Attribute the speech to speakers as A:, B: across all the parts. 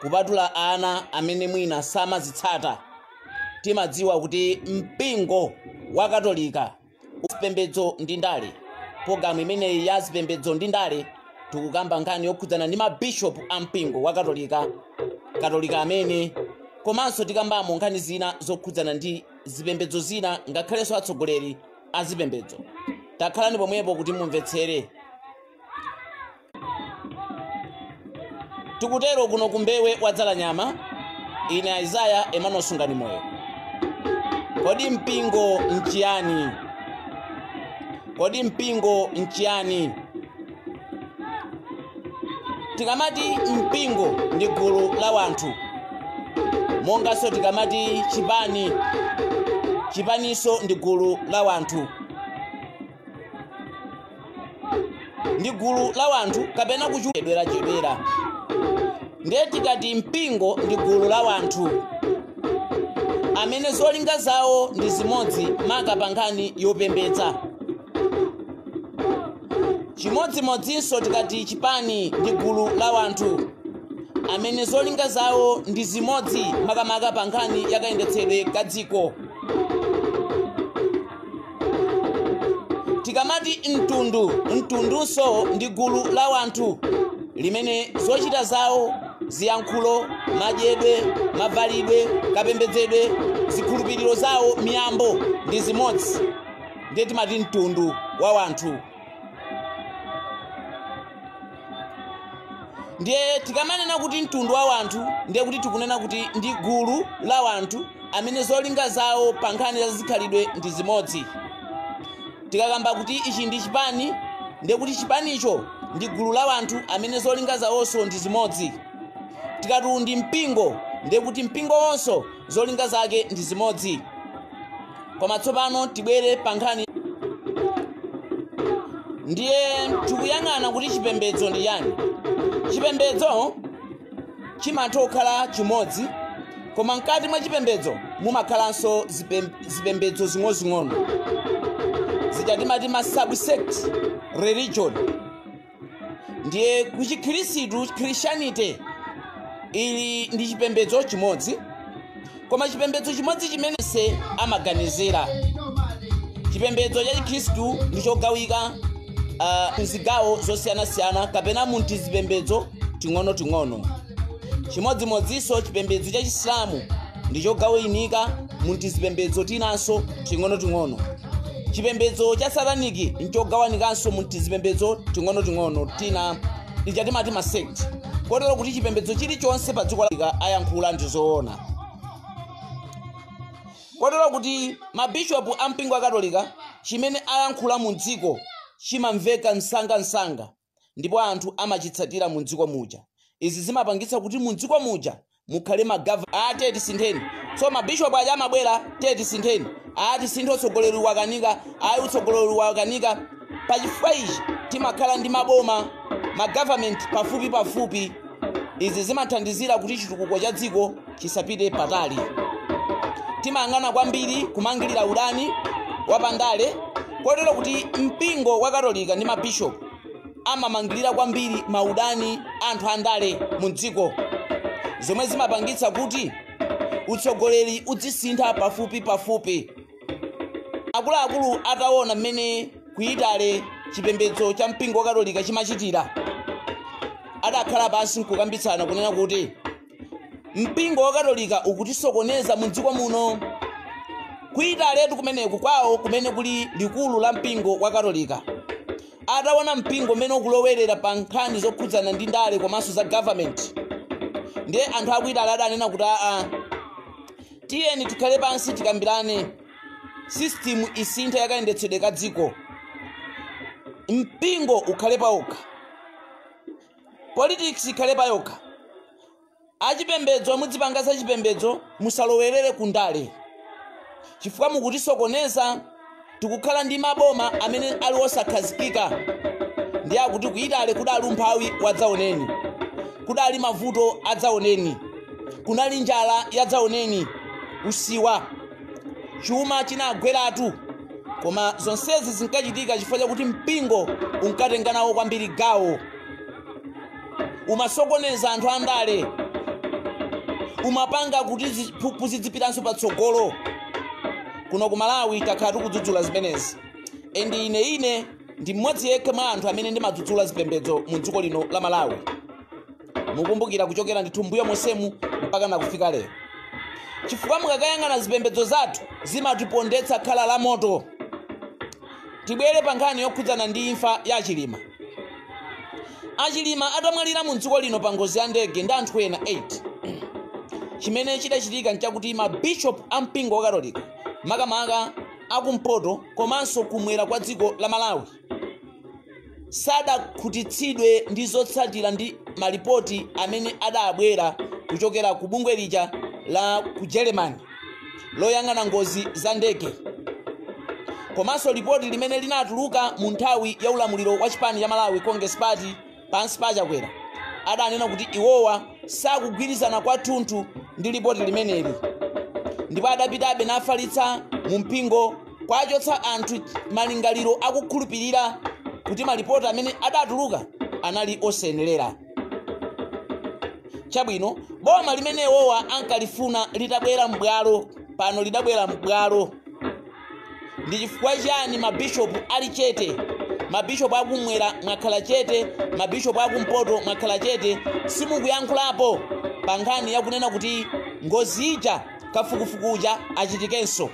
A: kupatula ana amene mwina samazitsata timadziwa kuti mpingo wa katolika zipembedzo ndi ndale pologalamu imeneyi ya zipembedzo ndi ndale tikukamba nkhani yokhudzana ndi mabishopu a mpingo wa katolika katolika amene komanso tikambamo nkhani zina zokhudzana ndi zipembedzo zina ngakhalenso atsogoleri a zipembedzo takhalani pomwepo kuti mumvetsere tikutero kuno ku Mbewe wa Dzalanyama ine aizaya emmanuel sunganimoyo kodi mpingo nchiyani kodi mpingo nchiyani tikamati mpingo ndi gulu la wanthu monganso tikamati chipani chipaninso ndi gulu la wanthu ndi gulu la wanthu kapena kuchedwerachedwera ndiye tikati mpingo ndi gulu la wanthu amene zolinga zawo ndi zimodzi maka pa nkhani yopembedza chimodzimodzinso tikati chipani ndi gulu la wanthu amene zolinga zawo ndi zimodzi makamaka pa nkhani yakayendetsedwe ka dziko tikamati mtundu mtundunso ndi gulu la wanthu limene zochita zawo ziyankhulo madyedwe mavalidwe kapembedzedwe zikhulupiriro zawo miyambo ndi zimodzi ndiye timati mtundu wa wanthu ndiye tikamanena kuti mtundu wa wanthu ndiye kuti tikunena kuti ndi gulu la wanthu amene zolinga zawo pa nkhani za zikhalidwe ndi zimodzi tikakamba kuti ichi ndi chipani ndiye kuti chipanicho ndi gulu la wanthu amene zolinga zawonso ndi zimodzi tikati ndi mpingo ndiye kuti mpingo wonso zolinga zake ndi zimodzi koma tsopano tibwere pa nkhani ndiye tikuyang'ana kuti chipembedzo ndi chani chipembedzo chimatha kukhala chimodzi koma mkati mwa chipembedzo mumakhalanso zipem- zipembedzo zing'onozing'ono zija timati ma subsect religion ndiye kuchikhirisitu christianity ili ndi chipembedzo chimodzi koma chipembedzo chimodzi chimenechi samaganizira chipembedzo cha chikhristu ndi chogawika uh, mzigawo zosiyanasiyana kapena mu tizipembedzo ting'onoting'ono chimodzimodzinso chipembedzo cha chisilamu ndi chogawinika mu tizipembedzo tinanso ting'onoting'ono chipembedzo cha sataniki nchogawanikanso mu tizipembedzo ting'onoting'ono tina tija timati masect kotero kuti chipembedzo chilichonse pa dziko likaayankhula ndi zoona kotero kuti mabishopu a mpingo akatolika chimene ayankhula mu dziko chimamveka msangamsanga ndipo anthu amachitsatira mumdziko muja. Izi zimapangitsa kuti mumdziko muja mukhale ma gov. Ati tisintheni. So mabishopu aja amabwera, ati tisintheni. Ati tisinthe utsogoleri wakanika, ayi utsogoleri wakanika. Pa chifukwa ichi timakhala ndi maboma, ma government pafupi pafupi. Izi zimathandizira kuti chitukuko cha dziko chisapite patali timayang'ana kwambiri kumangirira udani wapandale kotero kuti mpingo wa katolika ndi mabishopu amamangirira kwambiri maudani a anthu andale mu dziko zomwe zimapangitsa kuti utsogoleri udzisintha pafupi pafupi akuluakulu ataona mmene kuyitale chipembedzo cha mpingo wa katolika chimachitira adakhala pansi nkukambitsana kunena kuti mpingo wa katolika ukutisokoneza mu dziko muno kuitaletu kumeneku kwawo kumene kuli likulu la mpingo wa katolika ataona mpingo mmene ukulowerera pa nkhani zokhudzana ndi ndale komanso za government ndiye anthu akuitale adanena kuti aa tiyeni tikhale pansi tikambirane system isinthe yakayendetsedwe ka dziko mpingo ukhale pawokha Politics ikhale payokha. Achipembedzo mudzipanga zachipembedzo musalowerere ku ndale chifukwa mukutisokoneza. Tikukhala ndi maboma amene ali osakhazikika ndiye akuti ku Italy kudali umphawi wadzaoneni, kudali mavuto adzaoneni, kunali njala yadzaoneni, usiwa. chuma chinagweratu koma zonsezi zinkachitika chifukwa chakuti mpingo unkatenga nawo kwambiri gawo umasokoneza anthu andale umapanga kuti ziphuphu zidzipitiranso patsogolo kuno ku malawi takhala tikudzudzula zimenezi and ine ine ndi mmodzi yekha mwa anthu amene ndimadzudzula zipembedzo mu dziko lino la malawi mukumbukira kuchokera ndithu mbuyo monsemu mpaka nakufika lero chifukwa mukakayang'ana zipembedzo zathu zimatipondetsa khala la moto tibwere pa nkhani yokhudzana ndi imfa ya achilima achilima atamwalira mu dziko lino pa ngozi ya ndege ndi anthu ena 8 chimene chidachitika nchakuti mabishop a mpingo wa katolika makamaka akumpoto komanso kumwera kwa dziko la malawi sadakhutitsidwe ndi zotsatira ndi malipoti amene adabwera kuchokera ku bungwe lija la ku Germany loyang'ana ngozi za ndege komanso lipoti limene linatuluka mu nthawi ya ulamuliro wa chipani cha Malawi Congress Party pansi pa achakwera adanena kuti iwowa sakugwirizana kwathunthu ndi lipoti limeneli ndipo adapitabe nkufalitsa mu mpingo kuwachotsa anthu malingaliro akukhulupirira kuti malipoti amene adatuluka anali osayenelera chabwino boma limene iwowa ankalifuna litabwera m'bwalo pano lidabwera m'bwalo ndi chifukwa chani mabishopu ali chete mabishopu akumwera mwakhala chete mabishopu akumpoto mwakhala chete simukuyankhulapo pa nkhani yakunena kuti ngozi ija kafukufuku uja achitikenso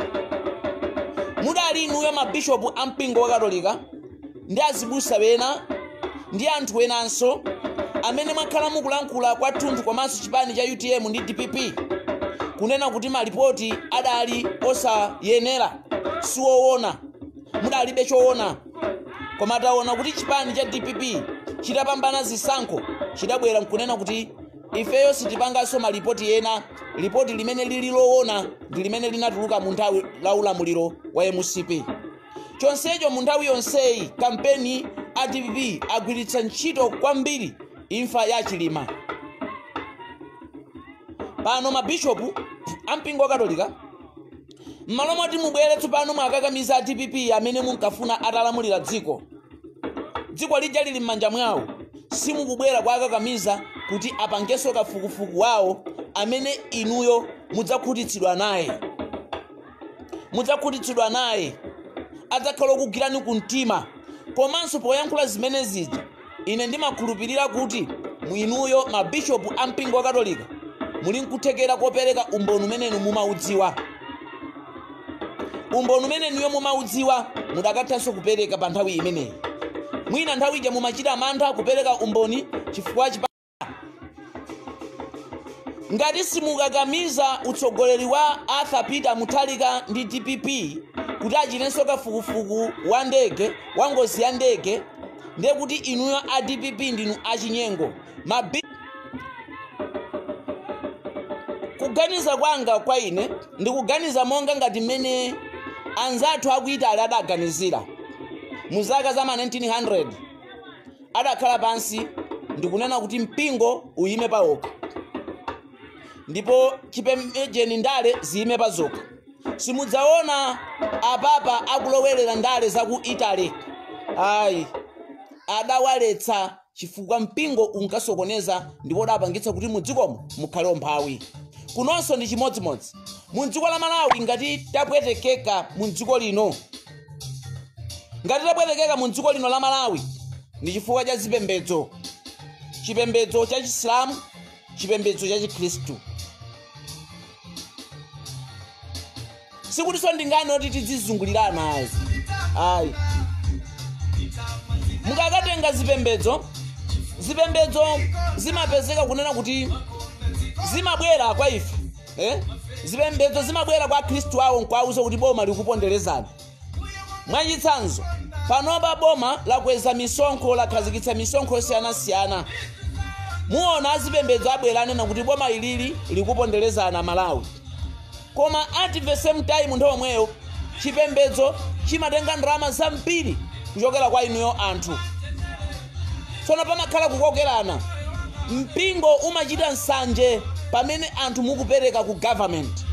A: mudali inuyo mabishopu a mpingo wa katolika ndi azibusa ena ndi anthu wenanso amene mwakhala mukulankhula kwathunthu komanso chipani cha utm ndi dpp kunena kuti malipoti adali osayenera siwoona mudalibe choona koma taona kuti chipani cha dpp chitapambana zisankho chidabwera nkunena kuti ifeyo sitipanganso malipoti ena lipoti limene lili loona ndi limene linatuluka mu nthawi ya ulamuliro wa mcp chonsecho mu nthawi yonseyi kampeni a dpp agwiritsa ntchito kwambiri imfa ya chilima pano mabishopu ampingo wakatolika m'malo moti mubwere tsopano muwakakamize a dpp amene munkafuna atalamulira dziko dziko lija lili m'manja mwawo simukubwera kuwakakamiza kuti apangenso kafukufuku wawo amene inuyo mudzakhutitsidwa naye mudzakhutitsidwa naye adzakhala okugwirani ku mtima komanso poyankhula zimene zija ine ndimakhulupirira kuti inuyo mabishopu a mpingo wa katolika muli nkuthekera kopereka umboni umene inu mumaudziwa umboni umene inuyo mumaudziwa mudakathanso kupereka pa nthawi imeneyi mwina nthawi ija mumachita mantha kupereka umboni chifukwa ngati simukukakamiza utsogoleri wa arthur peter mutharika ndi dpp kuti achitenso kafukufuku wa ndege wa ngozi ya ndege ndiye kuti inuyo a dpp ndinu achinyengo Mabi... kuganiza kwanga kwa ine ndikuganiza monga ngati mmene anzathu aku Italy adaganizira mu zaka za ma 1900 adakhala pansi ndikunena kuti mpingo uyime pawokha ndipo chipembedzo ndi ndale ziyime pazokha simudzaona a papa akulowerera ndale za ku italy ayi adawaletsa chifukwa mpingo unkasokoneza ndipo udapangitsa kuti mdzikomo mukhale umphawi kunonso ndi chimodzimodzi mu dziko la malawi ngati tapwetekeka mu dziko lino ngati tapwetekeka mu dziko lino la malawi ndi chifukwa cha zipembedzo chipembedzo cha chisilamu chipembedzo cha chikhristu sikutinso ndi nkhani yoti tidzizungulirana ayi ayi mukakatenga zipembedzo zipembedzo zimapezeka kunena kuti zimabwera kwa ife eh? zipembedzo zimabwera kwa akhristu awo nkwauza kuti boma likuponderezani mwachitsanzo panopa boma lakweza misonkho lakhazikitsa misonkho yosiyanasiyana muona azipembedzo abwera anena kuti boma ili likupondereza amalawi koma at the same time nthawi yomweyo chipembedzo chimatenga ndalama zambiri kuchokera kwa inuyo anthu tsono pamakhala kukokerana mpingo umachita nsanje pamene anthu mukupereka ku government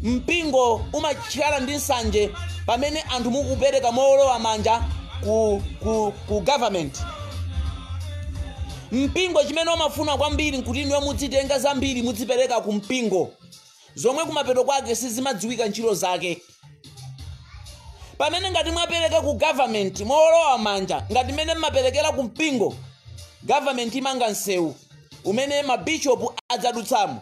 A: mpingo umakhala ndi nsanje pamene anthu mukupereka mowolowa manja ku, ku, ku government mpingo chimene umafuna kwambiri nkuti inuyo mudzitenga zambiri mudzipereka ku mpingo zomwe kumapeto kwake sizimadziwika ntchito zake pamene ngati mwapereka ku government mowolowa manja ngati mmene mmaperekera ku mpingo government imanga msewu umene mabishopu adzadutsamo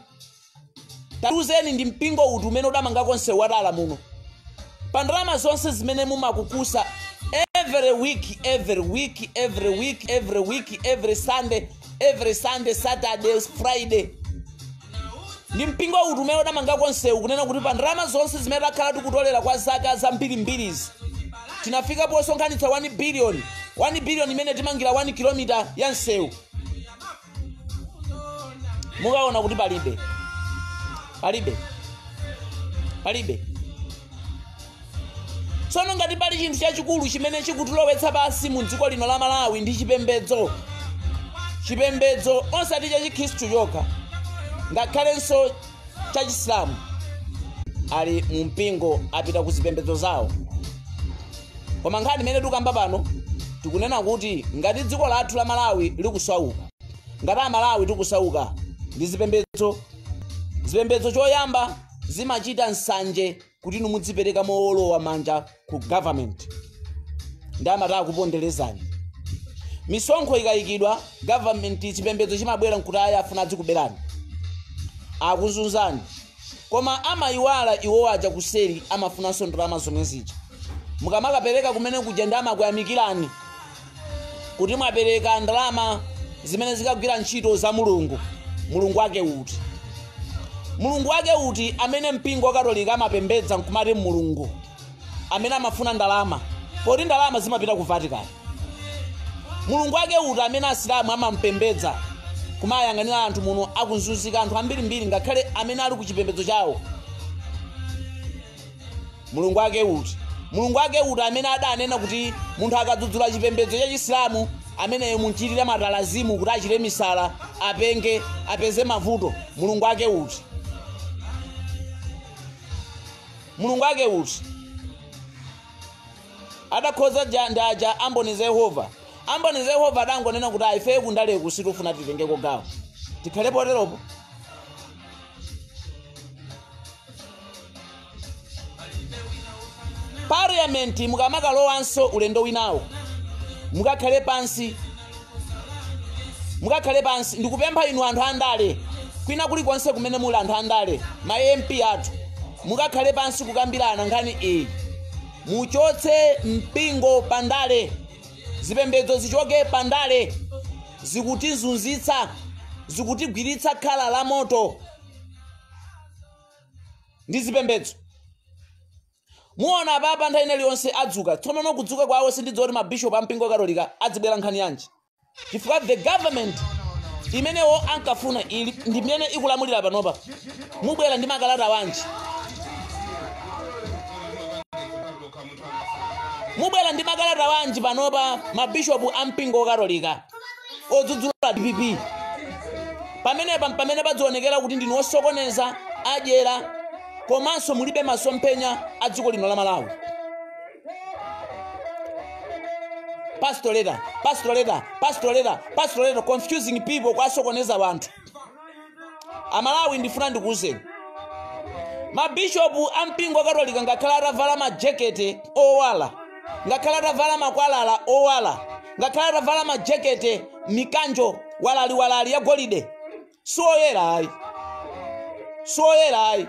A: tatiuzeni ndi mpingo uti umene udamangako msewu watala muno pa ndalama zonse zimene mumakukusa every week every week every week every week every sunday every sunday saturday friday ndi mpingo uti umene udamangako nsewu kunena kuti pa ndalama zonse zimene takhala tikutolera kwa zaka zambirimbirizi tinafika posonkhanitsa 1 billion 1 billion imene timangira 1 kilomita ya msewu mukaona kuti palibe palibe palibe tsono ngati pali chinthu chachikulu chimene chikutilowetsa pansi mu dziko lino la malawi ndi chipembedzo chipembedzo osati cha chikhristu chokha ngakhalenso cha chisilamu ali mu mpingo apita ku zipembedzo zawo koma nkhani imene tikukamba pano tikunena kuti ngati dziko lathu la malawi likusauka ngati amalawi tikusauka ndi zipembedzo zipembedzo choyamba zimachita nsanje kuti inu mudzipereka mowolowa manja ku government ndi amati akuponderezani misonkho ikayikidwa government chipembedzo chimabwera nkuti ayi afuna adzikuberani akuzunzani koma amayiwala iwo aja kuseri amafunanso ndalama zomwe zija mukamakapereka kumene kuja ndi amakuyamikirani kuti mwapereka ndalama zimene zikagwira ntchito za mulungu mulungu wake uti mulungu wake uti amene mpingo wakatolika amapembedza nkumati mulungu amene amafuna ndalama poti ndalama zimapita ku vatican mulungu wake uti amene asilamu amampembedza kumayang'anira anthu muno akuzunzika anthu ambirimbiri ngakhale amene ali ku chipembedzo chawo mulungu wake uti mulungu wake uti amene adanena kuti munthu akadzudzula chipembedzo cha chisilamu ameneyo munchitire matalazimu kuti achite misala apenge apeze mavuto mulungu wake uti mulungu wake uti adakhoza bwanji aja amboni za yehova amboni za yehova adangonena kuti ayi ife kundaleku sitifuna titengeko gawo tikhale poteropo parliament mukamakalowanso ulendo winawo mukakhale pansi mukakhale pansi ndikupempha inu anthu andale kwina kulikonse kumene muli anthu andale ma mp athu mukakhale pansi kukambirana nkhani iyi muchotse mpingo pandale zipembedzo zichoke pandale zikutizunzitsa zikutigwiritsa khala la moto ndi zipembedzo muona apapa nthawi ina iliyonse adzuka tsono kudzuka kwawo sindidziwa kuti mabishopu a mpingo katolika adzibwera nkhani yanji chifukwa the government imene iwo ankafuna iyi ndi imene ikulamulira panopa mubwera ndi makalata anji mubwera ndi makalata anji panopa mabishopu a mpingo katolika odzudzula dpp pamenepa mpamene padzionekera kuti ndinu osokoneza adyera komanso mulibe masomphenya a dziko lino la malawi pastoral letter pastoral letter pastoral letter pastoral letter confusing people kwasokoneza wanthu amalawi ndifuna ndikuwuzeni mabishopu a mpingo wakatolika ngakhale atavala majekete owala ngakhale atavala makwalala owala ngakhale atavala majekete mikanjo waliwaliwali ya golide siwoyera ayi siwoyera ayi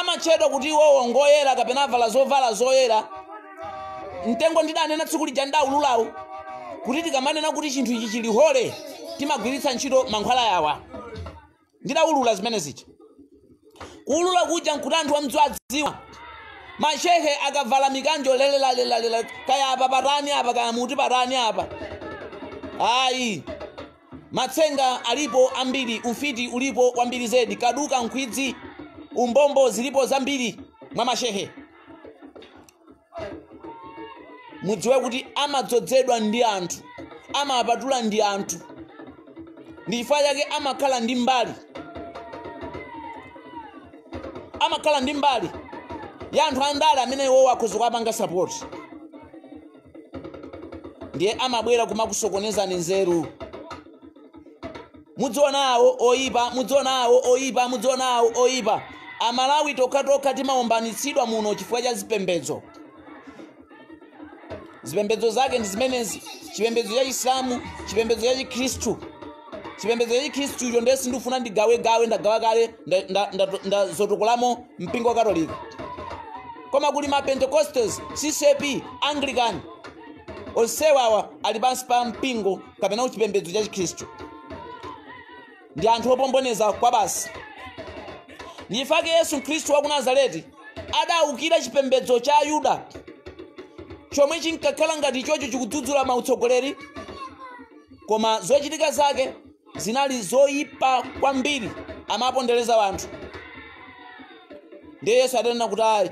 A: amatchedwa kuti iwowo ngoyera kapena avala zovala zoyera mtengo ndidanena tsiku lija ndidawulula kuti tikamanena kuti chinthu ichi chili holy timagwiritsa ntchito mankhwala yawa ndidawulula zimene zija kuwulula kuja nkuti anthu amdziwadziwa mashehe akavala mikanjo lelelalelela kaya apa patani apa kaya muti patani apa ayi matsenga alipo ambiri ufiti ulipo wambiri zedi kaduka nkhwidzi umbombo zilipo zambiri mwa mashehe mudziwe kuti amadzozedwa ndi anthu amapatulidwa ndi anthu ndi chifukwa chake amakhala ndi mbali amakhala ndi mbali ya anthu andale amene iwowo akhoza kuwapanga sapoti ndiye amabwera kumakusokonezani nzeru mudziona awo oyipa mudziona awo oyipa mudziona awo oyipa amalawi tokhatokha timaombanitsidwa muno chifukwa cha zipembedzo zipembedzo zake ndi zimenezi chipembedzo cha chisilamu chipembedzo cha chikhristu chipembedzo cha chikhristucho ndiye sindifuna ndigawegawe ndagawa kale nda- nda- nda- ndazotokolamo mpingo wa katolika koma kuli ma pentecostals ccp anglican onse awawa ali pansi pa mpingo kapena kuti chipembedzo cha chikhristu ndi anthu opomboneza kwabasi ndi chifukwa chake yesu khristu wa ku nazareti adawukira chipembedzo cha ayuda chomwe chinkakhala ngati chocho chikudzudzula ma utsogoleri koma zochitika zake zinali zoyipa kwambiri amapondereza anthu ndiye yesu adanena kuti ayi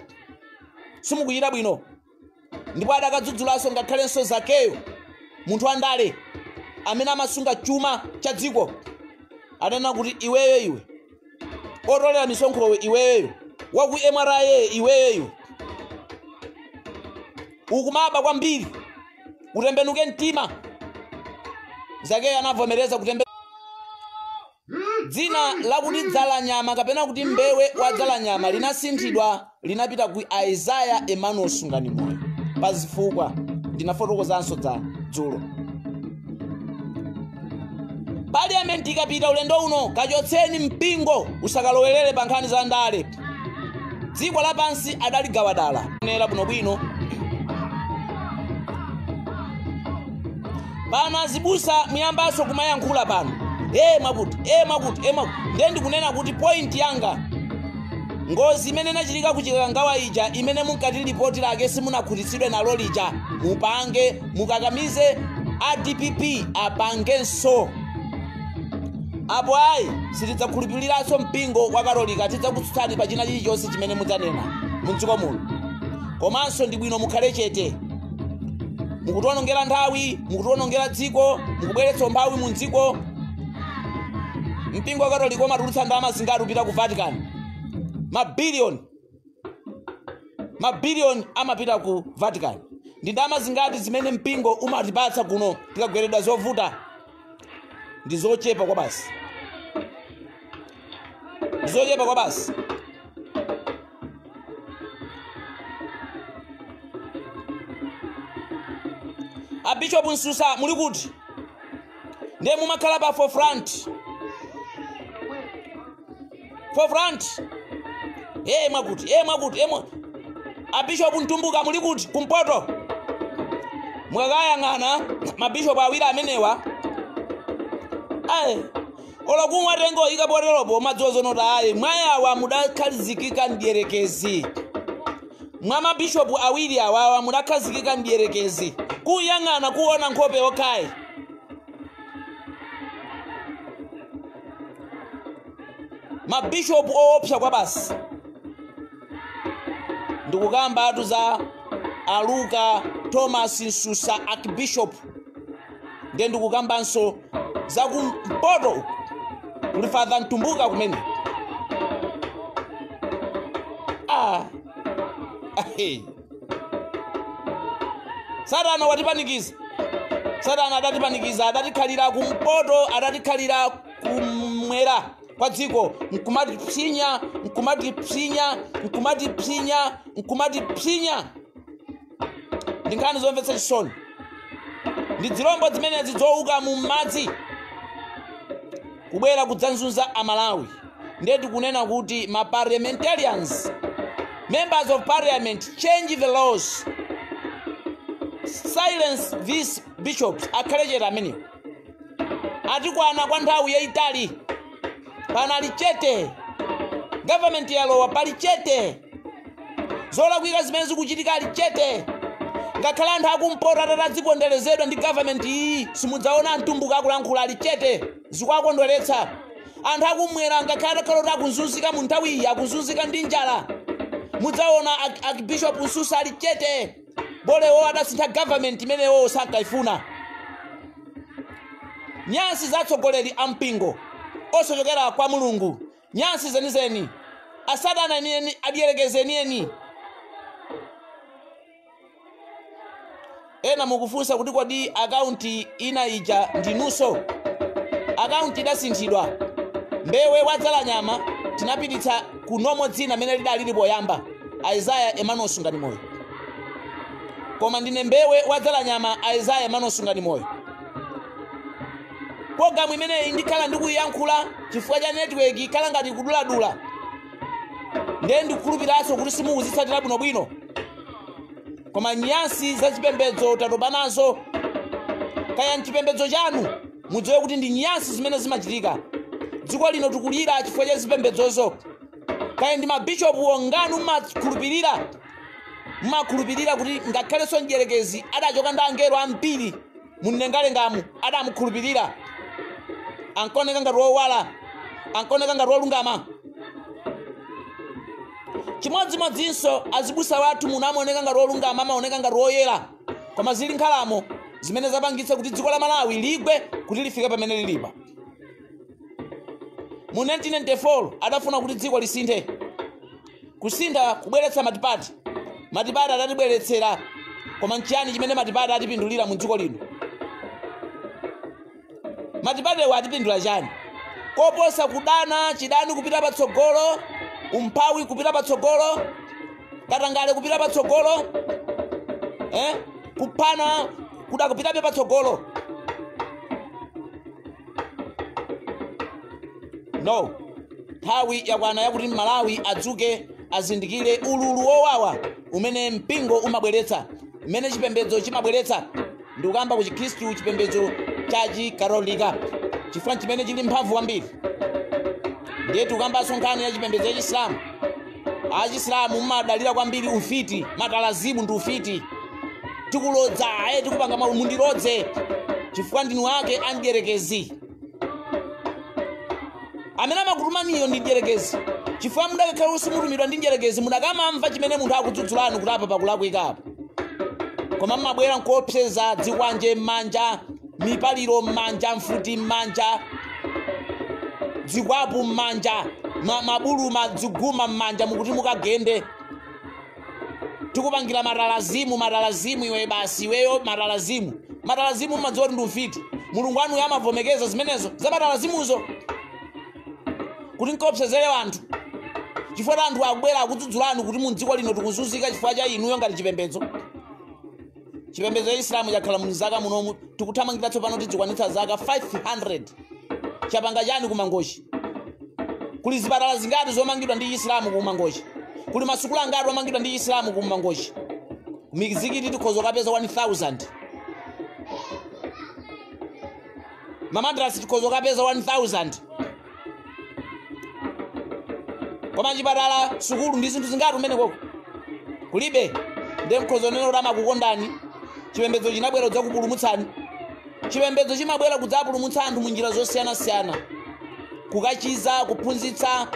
A: simukuchita bwino ndipo adakadzudzulanso ngakhalenso zakeyo munthu wandale amene amasunga chuma cha dziko adanena kuti iweyo iwe otolera misonkhowe iweyo wa ku mra iweyo iwe ukumaba kwambiri utembenuke mtima zakeyo anavomereza kutembe Dzina lakuti Dzalanyama kapena kuti Mbewe wa Dzalanyama linasinthidwa linapita ku Isaiah Emmanuel Sunganimoyo pa zifukwa ndinafotokozanso dza dzulo. Parliament ikapita ulendo uno kachotseni mpingo usakalowerere pa nkhani za ndale. dziko lapansi adaligawa dala onera bwinobwino pano azibusa mwayambanso kumayankhula pano e mwakuti e mwakuti e mwakuti ndiye ndikunena kuti point yanga ngozi imene inachitika ku chikangawa ija imene munkati lipoti lake simunakhutitsidwe nalo lija mupange mukakamize a dpp apangenso apo ayi sitidzakhulupiriranso mpingo wa katolika tidzakutsutsani pa china chilichonse chimene mudzanena mumdziko muno komanso ndi bwino mukhale chete mukutiwonongera nthawi mukutiwonongera dziko mukubweretsa umphawi mu dziko mpingo wa katolika umatulutsa ndalama zingati kupita ku vatican mabiliyoni mabiliyoni amapita ku vatican ndi ndalama zingati zimene mpingo umatipatsa kuno tikagweredwa zovuta ndi zochepa kwabasi ndi zochepa kwabasi abishopu msusa muli kuti ndiye mumakhala pa forefront Forefront. Eh mwakuti, eh mwakuti, eh mwa. Abishop Mtumbuka muli kuti kumpoto. Mukawayang'ana mabishop awiri amenewa. Aye. Olo kumwatenga ikapoteropo madzi odzozedwa ayi mwa awa mudakhalizikika mdierekezi. Mwa mabishopu awiri awawa mudakhazikika mdierekezi. Kuyang'ana kuona nkhope yokhayi. mabishopu owopsa kwabasi ndikukambatu za a luke thomas msusa archbishop ndiye ndikukambanso za kumpoto uku kuli father mtumbuka kumene ah. Hey. satana watipanikiza satana adatipanikiza adatikhalira kumpoto adatikhalira kumwera kwa dziko nkumatipsinya nkumatipsinya nkumatipsinya nkumatipsinya ndi nkhani zomvetsa chisoni ndi dzilombo zimenezi zowuka mu madzi kubwera kudzanzunza amalawi ndiye tikunena kuti ma parliamentarians members of parliament change the laws silence these bishops akhale chete amenewo atikwana kwa nthawi yayitali panali chete government yalowa pali chete zolakwika zimene zikuchitika ali chete ngakhale anthu akumpoto atati adziponderezedwa ndi government iyi simudzaona mtumbuka akulankhula ali chete zikuwakondweretsa anthu akumwera ngakhale atakhala kuti akuzunzika mu nthawi iyi akuzunzika ndi njala mudzaona ak- archbishop msusa ali chete bolewo adasintha government imeneyo sankayifuna nyansi za atsogoleri a mpingo osachokera kwa mulungu nyansi zenizeni asatana enieni adierekeze enieni ena mukufunsa kuti kodi akaunti ina ija ndinunso akaunti idasinthidwa mbewe wadzala nyama tinapititsa ku nomo dzina amene lidalili poyamba aizaya emmanuel sungani moyo koma ndine mbewe wadzala nyama aizaya emmanuel sungani moyo programu imeneyi ndikhala ndikuyiyankhula chifukwa cha network ikhala ngati ikuduladula ndiye ndikukhulupiriraso kuti simukuzitsatira bwinobwino koma nyansi za chipembedzo tatopa nazo kaya mchipembedzo chanu mudziwe kuti ndi nyansi zimene zimachitika dziko lino tikulira chifukwa cha zipembedzozo kaya ndi mabishopu ong'anu mumakhulupirira mumakhulupirira kuti ngakhalenso mdyerekezi adachoka ndi angelo ambiri mumlengalengamu adamukhulupirira ankoneka ngati wowala ankoneka ngati wolungama chimodzimodzinso azibusa wathu muno amaoneka ngati olungama amaoneka ngati oyera koma zili nkhalamo zimene zapangitsa kuti dziko la malawi ligwe kuti lifike pamene lilipa mu 1994 adafuna kuti dziko lisinthe kusintha kubweretsa matipati matipati adatibweretsera koma nchiyani chimene matipati atipindulira mu dziko lino matipatiwa atipindula chani koposa kudana chidani kupita patsogolo umphawi kupita patsogolo katangale kupita patsogolo eh? kuphana kudakapitabe patsogolo no nthawi yakwana yakuti malawi adzuke azindikire ululu wowawa umene mpingo umabweretsa umene chipembedzo chimabweretsa ndikukamba ku chikhristu chipembedzo cha chikatolika chifukwa nchimene chili mphamvu kwambiri ndiye tikukambanso nkhani ya chipembedzo cha chisilamu achisilamu mumadalira kwambiri ufiti matalazimu ndi ufiti tikulodza aye tikupanga mawu mundilodze chifukwa ndinu ake amdyerekezi amene amakutumaniyo ndi mdyerekezi chifukwa mudakakhala kuti simutumidwa ndi mdyerekezi mudakamamva chimene munthu akudzudzulani kuti apa pakulakwika apa koma mmabwera nkuopseza dzikwanje m'manja mipaliro m'manja mfuti m'manja zikwapu m'manja ma- mabuluma ziguma m'manja mukuti mukagende tikupangira matalazimu matalazimu iwe basi iweyo matalazimu matalazimu mmadziwa kuti ndi ufiti mulungu wanuyo amavomekeza zimenezo za matalazimuzo kuti nkaopsezere anthu chifukwa ta anthu abwera akudzudzulani kuti mu dziko lino tikuzunzika chifukwa cha inuyo ngati chipembedzo chipembedzo cha isilamu chakhala mzaka munomu tikuthamangira tsopano tidzikwanitsa zaka 500 chapanga chani kumangochi kuli zipatala zingati zomangidwa ndi chisilamu kumangochi kuli masukulu angati omangidwa ndi chisilamu kumangochi mizikiti tikhoza kapeza 1000 mamadrasi tikhoza kapeza 1000 koma chipatala sukulu ndi zinthu zingati umene koko kulibe ndiye mukhoza kunena kuti amakukondani chipembedzo chinabwera kudzakupulumutsani chipembedzo chimabwera kudzapulumutsa anthu mu njira zosiyanasiyana kukachiza kuphunzitsa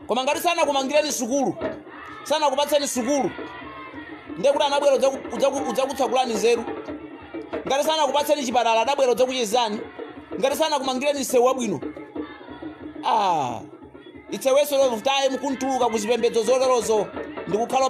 A: koma ngati sanakumangireni sukulu sanakupatseni sukulu ndiye kuti anabwera kudzaku- kudzaku- kudzakutsekulani nzeru ngati sanakupatseni chipatala adabwera kudzakuchizani ngati sanakumangireni msewu wabwino ah, it's a waste of time kumatuluka ku zipembedzo zoterozo ndikukhala